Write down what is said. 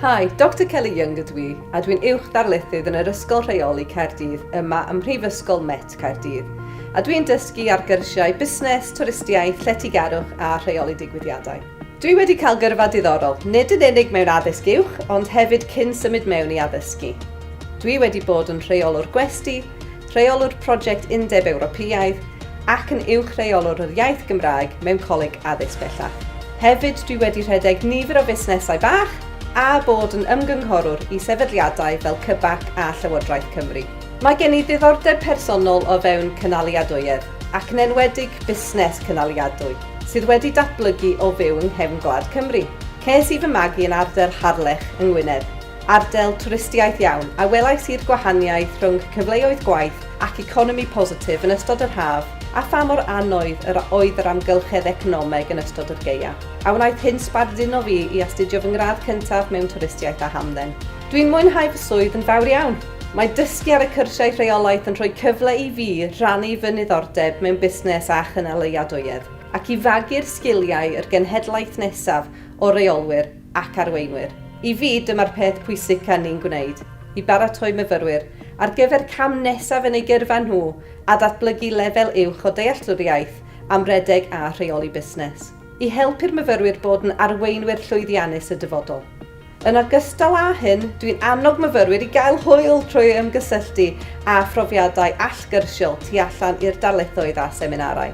Hi, Doctor Kelly Young ydw i, a dwi'n uwch ddarlithydd yn yr Ysgol Rheoli Caerdydd yma ym Mhrifysgol Met Caerdydd, a dwi'n dysgu ar gyrsiau busnes, twristiaeth, lletygarwch a rheoli digwyddiadau. Dwi wedi cael gyrfa diddorol, nid yn unig mewn addysg uwch, ond hefyd cyn symud mewn i addysgu. Dwi wedi bod yn rheolwr gwesty, Rheolwr Prosiect Undeb Ewropeaidd ac yn Uwch Reolwr yr Iaith Gymraeg mewn Coleg Addysg Bellach. Hefyd dwi wedi rhedeg nifer o fusnesau bach a bod yn ymgynghorwr i sefydliadau fel CBAC a Llywodraeth Cymru. Mae gen i ddiddordeb personol o fewn cynaliadwyedd ac yn enwedig busnes cynaliadwy sydd wedi datblygu o fyw yng nghefn gwlad Cymru. Ces i fy magu yn ardal Harlech yng Ngwynedd. Ardal twristiaeth iawn, a welais i'r gwahaniaeth rhwng cyfleoedd gwaith ac economi positif yn ystod yr haf, a pha mor annoydd yr oedd yr amgylchedd economeg yn ystod yr gaea. A wnaeth hyn sbarduno fi i astudio fy ngradd cyntaf mewn twristiaeth a hamdden. Dwi'n mwynhau fy swydd yn fawr iawn. Mae dysgu ar y cyrsiau rheolaeth yn rhoi cyfle i fi rannu fy niddordeb mewn busnes a chynaliadwyedd, ac i fagu'r sgiliau i'r genhedlaeth nesaf o reolwyr, ac arweinwyr. I fi, dyma'r peth pwysica ni'n gwneud, i baratoi myfyrwyr ar gyfer cam nesaf yn eu gyrfa nhw a datblygu lefel uwch o dealltwriaeth am redeg a rheoli busnes, i helpu'r myfyrwyr bod yn arweinwyr llwyddiannus y dyfodol. Yn ogystal â hyn, dwi'n annog myfyrwyr i gael hwyl trwy ymgysylltu â phrofiadau allgyrsiol tu allan i'r darlithoedd a seminarau.